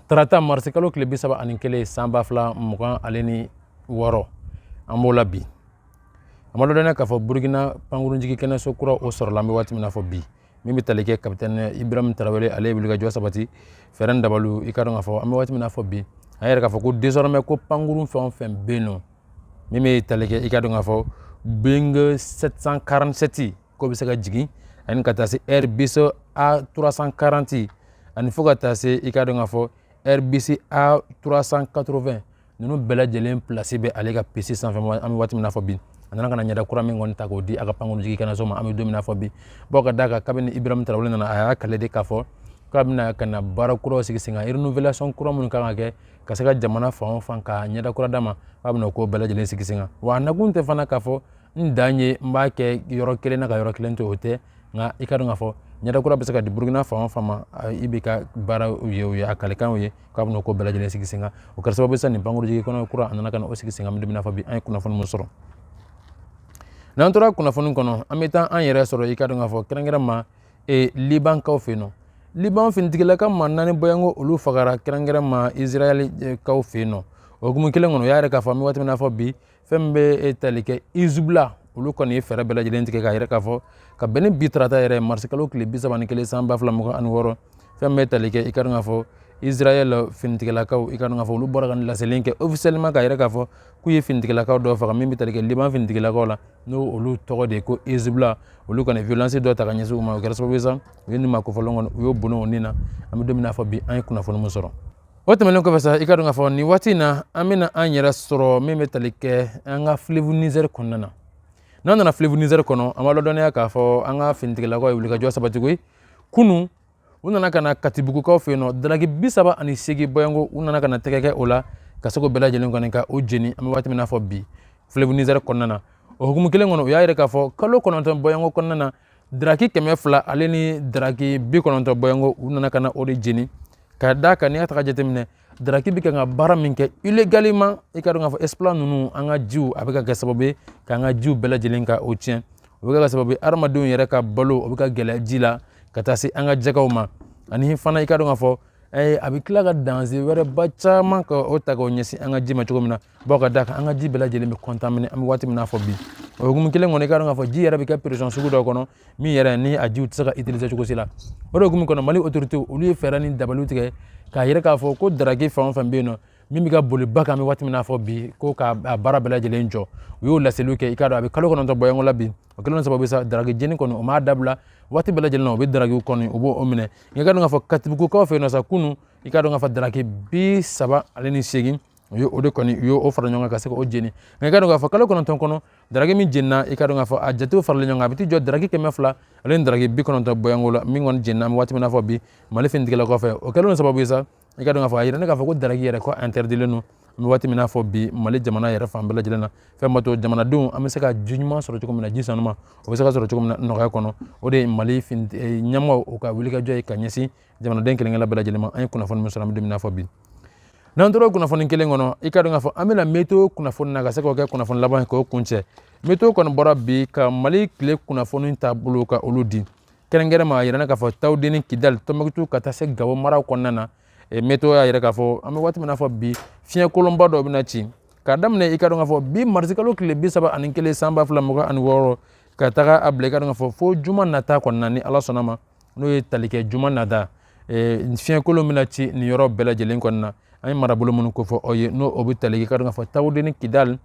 tarata marisikalo tile bi saba ani kelen san ba fila mugan ale ni wɔɔrɔ an b'o la bi an b'a ladɔnniya k'a fɔ burukina pankurunjigi kɛnɛso kura o sɔrɔla an bɛ waati min na fɔ bi min bɛ tali kɛ kapitɛnɛ ibrahim tarawele ale ye wulikajɔ sabati fɛɛrɛ dabalu i ka dɔn k'a fɔ an bɛ waati min na fɔ bi an yɛrɛ k'a fɔ ko désormais ko pankurun fɛn o fɛn bɛ yen nɔ min bɛ tali kɛ i ka dɔn k'a fɔ boeing 747 k'o bɛ se ka jigin ani ka taa se airbus a340 ani fo ka taa se i ka dɔn k'a fɔ airbus a380 ninnu bɛɛ lajɛlen pilasi bɛ ale ka piste sanfɛ an bɛ waati min na fɔ bi a nana ka na ɲɛda kura min kɔni ta k'o di a ka pankurunjigi kɛnɛso ma an bɛ don min na fɔ bi bawo ka d'a kan kabini ibrahim tarawele nana a y'a kale de k'a fɔ k'a bɛna ka na baara kuraw sigi sen kan renouvelation kura minnu kan ka kɛ ka se ka jamana fan o fan ka ɲɛda kura d'a ma k'a bɛna o ko bɛɛ lajɛlen sigi sen kan wa a nakun tɛ fana k'a fɔ n dan ye n b'a kɛ yɔrɔ kelen na ka yɔrɔ kelen to o tɛ nka i ka dɔn k'a fɔ ɲɛda kura bɛ se ka di burukina fan o fan ma ib ka baara ye o ye a kalikanw ye k'a bɛna ko bɛɛ lajɛlen sigi sen kan o kɛra sababu ye sa nin pankurunjigi kɛnɛ kura a nana ka na o sigi sen kan an bɛ don min na fɔ bi an ye kunnafoni min sɔrɔ n'an tora kunnafoni kɔnɔ an bɛ taa an yɛrɛ sɔrɔ i ka dɔn k'a fɔ kɛrɛnkɛrɛnma libankaw fɛ yen nɔ liban finitigilaka maa naani bɔyanko olu fagara kɛrɛnkɛrɛnma israɛlkaw fɛ yen nɔ o hukumu kelen kɔnɔ o y'a yɛrɛ k'a fɔ an bɛ waati min na fɔ bi fɛn min bɛ tali kɛ hezbollah olu kɔni ye fɛɛrɛ bɛɛ lajɛlen tigɛ k'a yɛrɛ k'a fɔ ka bɛn ni bi tarata yɛrɛ marisikalo tile bi saba ni kelen san ba fila mugan ani wɔɔrɔ fɛn min bɛ tali kɛ i ka dɔn k'a fɔ israɛl finitigilakaw i ka dɔn k'a fɔ olu bɔra ka nin laseli kɛ officiellement k'a yɛrɛ k'a fɔ k'u ye finitigilakaw dɔ faga min bɛ tali kɛ liban finitigilakaw la n'o olu tɔgɔ de ye ko hezbollah olu kɔni violence dɔ ta ka ɲɛsin u ma o kɛra sababu ye sa u ye nin maa kofɔlen kɔni u y'o bɔnɛ o ni na an bɛ don min na fɔ bi an ye kunnafoni min sɔrɔ o tɛmɛnen kɔfɛ sa i ka dɔn k'a fɔ nin waati in na an bɛna an yɛrɛ sɔrɔ min bɛ tali kɛ an ka fleuve niger kɔnɔna na n'an nana fleuve niger kɔnɔ an b'a ladɔnniya k'a fɔ an ka finitigilakaw ye wulikajɔ sabati koyi kunun u nana ka na katibugukaw fɛ yen nɔ daraki bi saba ani seegin bɔyanko u nana ka na tɛgɛ kɛ o la ka se k'o bɛɛ lajɛlen kɔni ka o jeni an bɛ waati min na fɔ bi fleuve niger kɔnɔna na o hukumu kelen kɔnɔ u y'a yɛrɛ k'a fɔ kalo kɔnɔntɔn bɔyanko kɔnɔna na daraki kɛmɛ fila ale ni daraki bi kɔnɔntɔn bɔyanko u nana ka na o de jeni ka d'a kan n'i y'a ta k'a jateminɛ daraki bɛ kan ka baara min kɛ illégalement i ka dɔn k'a fɔ exploitants ninnu an ka jiw a bɛ ka kɛ sababu ye k'an ka jiw bɛɛ lajɛlen ka o tiɲɛ o bɛ ka kɛ sababu ye adamadenw yɛrɛ ka balo o bɛ ka gɛlɛya ji la ka taa se an ka jɛgɛw ma ani fana i ka dɔn k'a fɔ a bɛ tila ka danger wɛrɛba caman ka o ta k'o ɲɛsin an ka ji ma cogo min na baw ka d'a kan an ka ji bɛɛ lajɛlen bɛ kɔntamine an bɛ waati min na fɔ bi o hukumu kelen kɔnɔ i ka dɔn k'a fɔ ji yɛrɛ bɛ kɛ peresɔn sugu dɔ kɔnɔ min yɛrɛ ni a jiw tɛ se ka itilize cogo si la o de hukumu kɔnɔ mali otorite olu ye fɛɛrɛ ni dabaliw tigɛ k'a yira k'a fɔ ko daraki fɛn o fɛn bɛ yen nɔ min bɛ ka boli ba kan an bɛ waati min na fɔ bi ko k'a baara bɛɛ lajɛlen jɔ u y'o laseliw kɛ i k'a dɔn a bɛ kalo kɔnɔntɔn bɔyanko la bi o kɛlen sababu sa daraki jeni kɔni o m'a dabila waati bɛɛ lajɛlen na o bɛ darakiw kɔni u b'o minɛ nka i ka dɔn k'a fɔ katibugukaw fɛ yen nɔ sa kunun i ka dɔn k'a fɔ daraki bi saba ale ni seegin u ye o de kɔni u ye o fara ɲɔgɔn kan ka se k'o jeni nka i ka dɔn k'a fɔ kalo kɔnɔntɔn kɔnɔ daraki min jenina i ka dɔn k'a fɔ a jatew faralen ɲɔgɔn kan a bɛ t'i jɔ daraki kɛmɛ fila ale ni daraki bi kɔnɔntɔn bɔyanko la min kɔni jenina an bɛ waati min na fɔ bi mali finitigilakaw fɛ o kɛlen sababu ye sa i ka dɔn k'a fɔ a yiralen k'a fɔ ko daraki yɛrɛ ko interdilen don an bɛ waati min na fɔ bi mali jamana yɛrɛ fan bɛɛ lajɛlen na fɛn min b'a to jamanadenw an bɛ se ka ji ɲuman sɔrɔ cogo min na ji sanuma o bɛ se ka sɔrɔ cogo min na nɔgɔya kɔnɔ o de ye mali ɲɛmɔgɔw ka wulikajɔ ye ka ɲɛsin jamanaden kelenkelenna bɛɛ lajɛlen ma an ye kunnafoni min sɔrɔ an bɛ don min na fɔ bi n'an tora kunnafoni kelen kɔnɔ i ka dɔn k'a fɔ an bɛ na météo kunnafoni na ka se k'o kɛ kunnafoni laban ye k'o kuncɛ météo kɔni bɔra bi ka mali tile kunnafoni taabolo ka olu di kɛrɛnkɛrɛnma a yira k'a fɔ tawudeni kidali tɔnbukutu ka taa se gawo maraw kɔnɔna na météo y'a yira k'a fɔ an bɛ waati min na fɔ bi fiɲɛ kolonba dɔ bɛna ci k'a daminɛ i ka dɔn k'a fɔ bi marisikalo tile bi saba ani kelen san ba fila mugan ani wɔɔrɔ ka taga a bila i ka dɔn k'a fɔ fo juma nata kɔnɔna ni ala sɔnna ma n'o ye tali kɛ juma nata fiɲɛkolon bɛna ci nin yɔrɔ bɛɛ lajɛlen kɔnɔna na an ye marabolo minnu kofɔ aw ye n'o o bɛ tali kɛ i ka dɔn k'a fɔ tawudeni kidali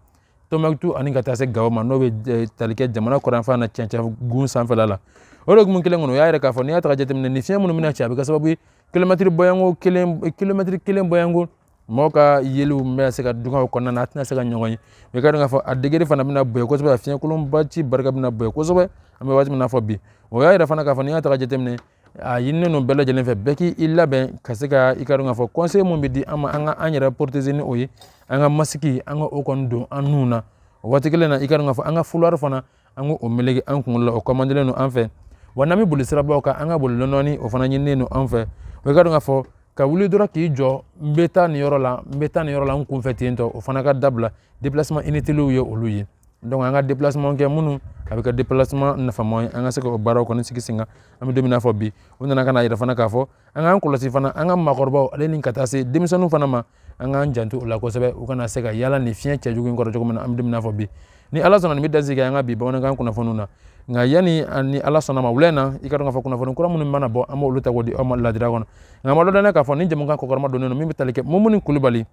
tɔnbukutu ani ka taa se gawo ma n'o bɛ tali kɛ jamana kɔrɔnfan na cɛncɛngun sanfɛla la o de hukumu kelen kɔnɔ u y'a yira k'a fɔ n'i y'a ta ka jateminɛ ni fiɲɛ minnu bɛna ci a bɛ kɛ sababu ye kilomɛtiri bɔyanko kelen kilomɛtiri kelen bɔyanko mɔgɔw ka yeliw bɛna se ka dɔgɔya o kɔnɔna na a tɛna se ka ɲɔgɔn ye i ka dɔn k'a fɔ a degere fana bɛna bonya kosɛbɛ a fiɲɛkolonba ci barika bɛna bonya kosɛbɛ an bɛ waati min na fɔ bi o y'a yira fana k'a fɔ n'i y'a ta ka jateminɛ a ɲininen don bɛɛ lajɛlen fɛ bɛɛ k'i labɛn ka se ka i ka dɔn k'a fɔ kɔnsɛyi min bɛ di an ma an ka an yɛrɛ poroteze ni o ye an ka masiki an ka o kɔni don an nun na o waati kelen na i ka dɔn k'a fɔ an ka fulari fana an k'o meleke an kunkolo la o kɔmandelen don an fɛ wa n'an bɛ boli sirabaw kan an ka boli dɔɔni o fana ɲininen don an fɛ o i ka dɔn k'a fɔ ka wuli dɔrɔn k'i jɔ n bɛ taa nin yɔrɔ la n bɛ taa nin yɔrɔ la n kunfɛ ten tɔ o fana ka dabila déplacement inutile ye olu ye donc an ka déplacement kɛ minnu a bɛ kɛ déplacement nafama ye an ka se ka o baaraw kɔni sigi sen kan an bɛ don min na fɔ bi u nana ka n'a yira fana k'a fɔ an k'an kɔlɔsi fana an ka maakɔrɔbaw ale ni ka taa se denmisɛnninw fana ma an k'an janto o la kosɛbɛ u kana se ka yala ni fiɲɛ cɛjugu in kɔrɔ cogo min na an bɛ don min na fɔ bi ni ala sɔnna nin bɛ dan sigi an ka bi bamanankan kunnafoni na nka yanni ni ala sɔnna ma wulɛ na i ka dɔn k'a fɔ kunnafoni kura minnu mana bɔ an b'olu ta k'o di aw ma ladira kɔnɔ nka an b'a dɔn k'a fɔ nin jɛmukan kɔkɔrɔmadon min bɛ tali kɛ mumuni kulubali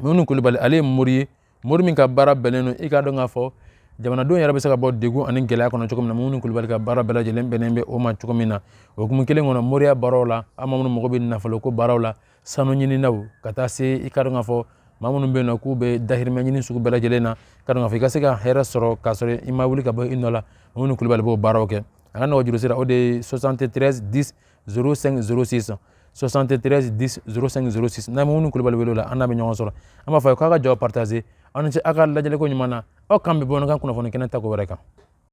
mumuni kulubali ale ye mori ye mori min ka baara bɛnnen don i k'a dɔn k'a fɔ jamanadenw yɛrɛ bɛ se ka bɔ degun ani gɛlɛya kɔnɔ cogo min na mumuni kulubali ka baara bɛɛ lajɛlen bɛnnen bɛ o ma cogo min na o hukumu kelen kɔnɔ moriya baaraw la an maa minnu mago bɛ nafoloko baaraw la sanu ɲininaw ka taa se i k'a dɔn k'a fɔ maa minnu bɛ yen nɔ k'u bɛ dahirimɛ ɲini sugu bɛɛ lajɛlen na k'a dɔn k'a fɔ i ka se ka hɛrɛ sɔrɔ k'a sɔrɔ i ma wuli ka bɔ i nɔ la mumuni kulubali b'o baaraw kɛ a ka nɛgɛjuru sira o de ye 73 10 ssansi san sɔsan tɛ tɛrɛz ssansi na minnu kulubali wele la an bɛ ɲɔgɔn sɔrɔ an b'a fɔ k'a ka jɔ patazse aw ni ce aw ka lajɛko ɲuman na aw kan bɛ bamanankan kunnafoni kɛnɛ ta wɛrɛ kan